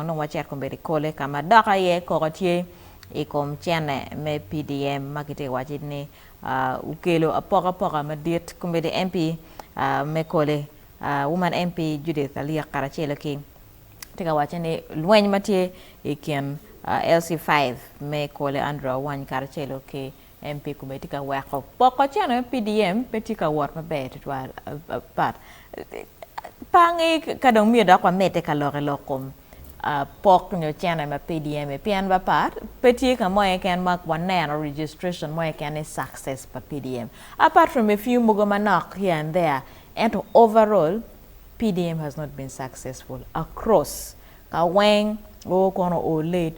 Onongo wacito kong bedo i kole ka ma dok aye koko tye i kom cene me PDM ma kitye ka waco ni okelo apokapoka madit. Kombeddi MP me kole, Woman MP Judith Aliek karacelo ki tye ka waco ni lweny ma tye i kin LC5 me kole Andrew Awany karacelo ki MP kome tye ka weko poko cene PDM pe tye ka wot maber tutwal but pangi ka dong myero dok wamedde ka lok i lok kom pok nyo cene ma PDM pien ba part pe tye ka mo keken ma waneno registration mo keken ni success pa PDM apart from a few mogo manok here and there ento overall PDM has not been successful across ka weng oo kono oo late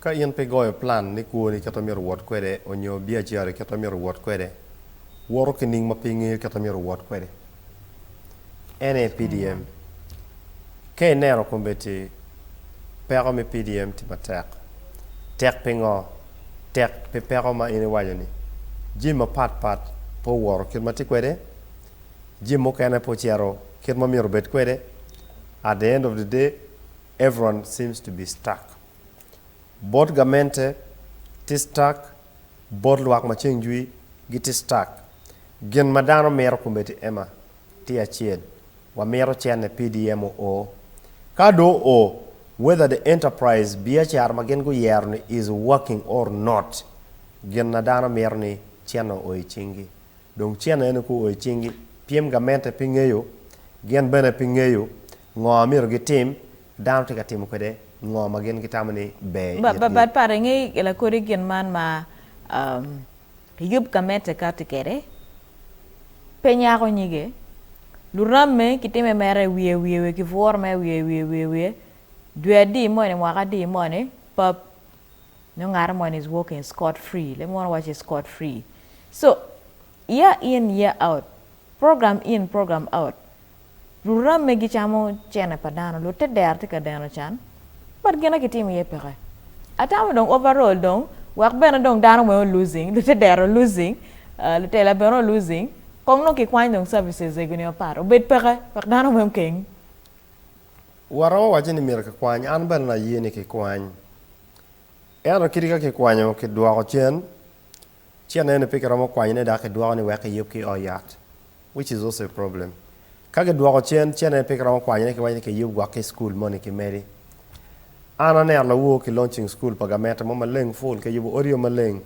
Ka in pe igoyo plan ni kwoni kit ma myero iwot kwede onyo biacarani kit ma myero iwot kwede, woto ki nining ma pe ingeyo kit ma myero iwot kwede? NA PDM, Ka ineno kombeddi peko me PDM tye matek, tek pingo? Tek pi peko ma in iwaco ni jami mapat pat pe owoto kit ma tye kwede, jami mukene pe ocito kit ma myero obed kwede, at the end of the day Everyone seems to be stuck. Bot gamente tye stuck, bot lwak ma ceng jwi gitye stuck. Gin ma dano mito komiti ema tye acel, wamito cene PDM oo. Ka do oo, whether the enterprise, biacara ma gin guyero ni is working or not, gin na dano mito ni cene oo i cingi. Dong cene eno ka oo i cingi, pyem gamente pe ngeyo, gin bene pe ngeyo, Ngo ma myero gitim? Dano tye ka timo kwede ngo ma gin gitamo ni ber i itgi? Bad pare, nge lakodi gin man ma Yub ka mete kati kede, Pe nyako nyige, luramme ki time mere wiye wiye wiye ki bwuro mere wiye wiye wiye wiye, dwe adi moni mwaka adi moni pap nyo ngate moni is walking scot free, leb munu waci scot free, so year in year out, program in program out. Luramme gicamo cene pa dano, lute dero tye ka deno can but gina kitimo iye peke. Atamo dong overall dong wek bene dong dano weng olosing, lute dero olosing, lutela bene olosing, kong dong kikwany dong services egi ni mapat obed peke wek dano weng okeng. Waromo waco ni myero kikwany, an bene na ye ni kikwany. Ento kit ka kikwanyo kidwoko cen Ci aneno pe kiromo kwanyo ne dok kidwoko ni wek kiyub ki oo yat which is also a problem. Ka kidwoko cen ci aneno pe kiromo kwanyo ne kiwaco ni kiyub gwok ki school moni ki medi. An aneno lawor ki launching school pa gamente mo maleng full kiyubo odi o maleng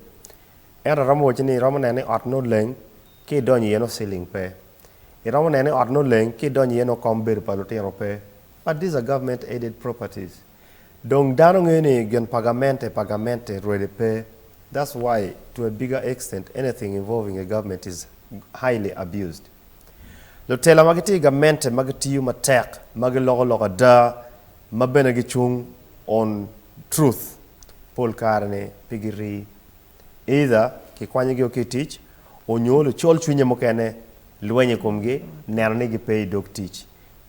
ento aromo waci ni iromo neno ni ot ne oleng ki idonyo iye nongo ceiling pe. Iromo neno ni ot ne oleng ki idonyo iye nongo kom bedo pa lutino pe but these are government aided properties. Dong dano ngeyo ni gin pa gamente pa gamente rwede pe that's why to a bigger extent anything involving a government is highly abused. Lutela ma gitye i gamente ma gitiyo matek ma giloko lok ada ma bene gicung on truth pol kare ni pe girii either kikwanyogi o ki i tic onyo lucol cwinye mukene lweny i komgi neno ni gipe i dog tic.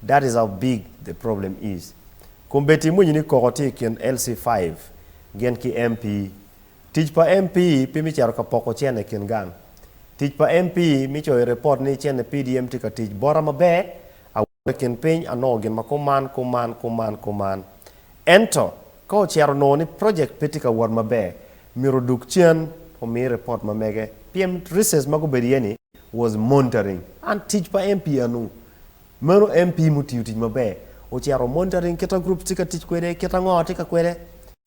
That is how big the problem is. Kombeddi imwinyo ni koko tye i kin LC five gin ki MP. Tic pa MP pe me cito ka poko cene i kin gang. Tic pa MP me coyo report ni cene PDM tye ka tic bota maber. I kin piny anongo gin ma kuman, kuman, kuman, kuman. Ento, ka ocito onongo ni project pe tye ka wot maber, myero odug cen omi report ma mege, pien reasons ma gubedo iye ni was monitoring. An tic pa MP anu? Meno MP mutiyo tic maber, ocito monitoring kita groups tye ka tic kwede, kita ngo tye ka kwede.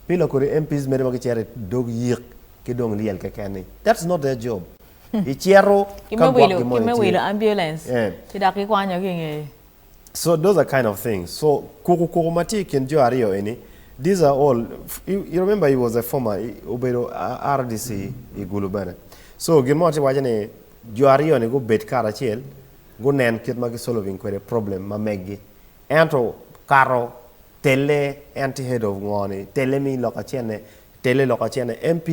Pila kodi MPs mede ma gicito i dog yik ki dong lyel keken ni, that's not their job. Icito ki me wilo ki me wilo ambulance ki dok kikwanyo ki nge. So those are kind of things so kuku kuku ma tye ikin jo aryo eni these are all you remember he was a former obedo rdc i gulu bene so gin mo atye waco ni jo aryo ni gubed karacel gunen kit ma ki solving kwede problem ma megi Ento kato telle en tye head of ngo ni telle mi lok acenne telle lok acenne MP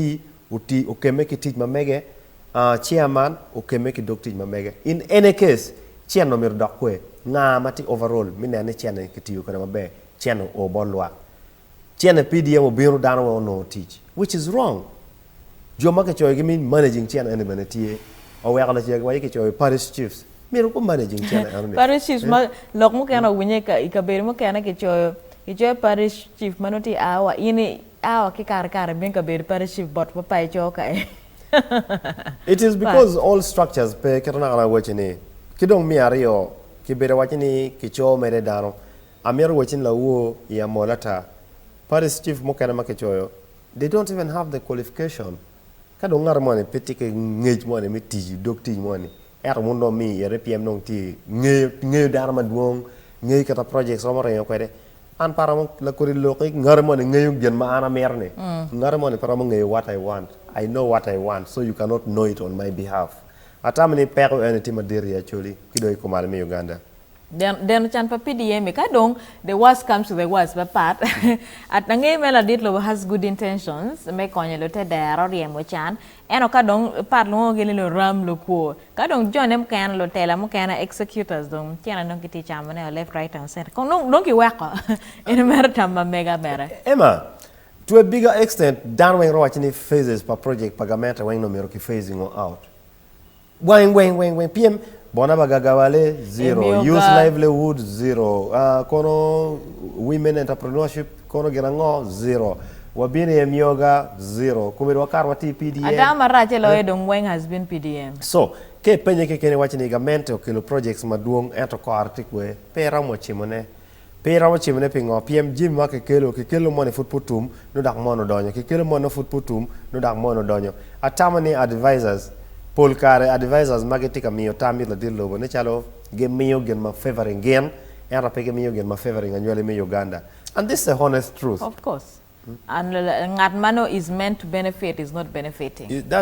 oti okemme ki tic ma mege aah chairman okemme ki dog tic ma mege in any case cen omyero odok kwe nga ma tye overall mi nen ni cen eni ki tiyo kwede maber cen o bot lwak Ci ene PDM obino dano weng onongo tic which is wrong. Jo ma kicoyo gi me managing cene eni bene tye. Oweko lacege wa aye kicoyo parish chiefs myero gu managing cene eno ni. Parish chiefs ma lok mukene owinye i kabedo mukene kicoyo kicoyo parish chief ma nongo tye a wa in i a wa ki kare kare bino kabedo parish chief bot ma pa ico kae. It is because all structures pe keto naka naka wacci ni. Ki dong me aryo kibedo wacci ni kico mere dano. Amito watch ni lawor i amol ata. Parties chief mukene ma kicoyo they don't even have the qualification. Ka dong ngat moni pe tye ki ngec moni me tic i dog tic moni ento wun dong mi ite pyem dong tye ngeyo ngeyo dano madwong, ngeyo kit ma projects romo ringo kwede. An pe aromo lakodi lok ik ngati moni ngeyo gin ma an amito ni. Ngati moni pe romo ngeyo what I want. I know what I want so you cannot know it on my behalf. Atamo ni peko eni tye madit i Acholi ki dong i Kumalo me Uganda. Deno, deno can pa PDM ka dong the worst comes to the worst pe pat. At angeyo me ladit lobo has good intentions me konyo lute dero ryemo can, eno ka dong pat lwongogi ni luram lukwo. Ka dong jo ne mukene lutela mukene executors dong cene dong kitye camo ne o left right and center kong dong dong kiweko in mere tam ma mega bene. Emma, To a bigger extent, dano weng ro waco ni phases pa project pa gamente weng nongo myero ki phasing o out. Weng weng weng weng pyem Bona ma gagawale zero Emiyo Youth ga. livelihood zero Ah, Kono women entrepreneurship kono gin ango zero Wabino i Emiyo ga zero Komedo wakato wati i PDM Ada marac e loyo dong weng has been PDM. So, ka ipenye keken iwaco ni gamente okelo projects madwong ento kore tye kwer, pe iromo cimone. Pe iromo cimone pingo? Pien jami ma kikelo, kikelo moni pud pe otum, nongo dok moni odonyo, kikelo moni nongo pud pe otum, nongo dok moni odonyo. Atamo ni advisors, pol kare advisors ma gitye ka miyo tam it ladit lobo ne calo gimiyo gin ma favouring gin, ento pe gimiyo gin ma favouring anywali me Uganda. And this is a honest truth. Of course. And ngat ma nongo is meant to benefit is not benefiting.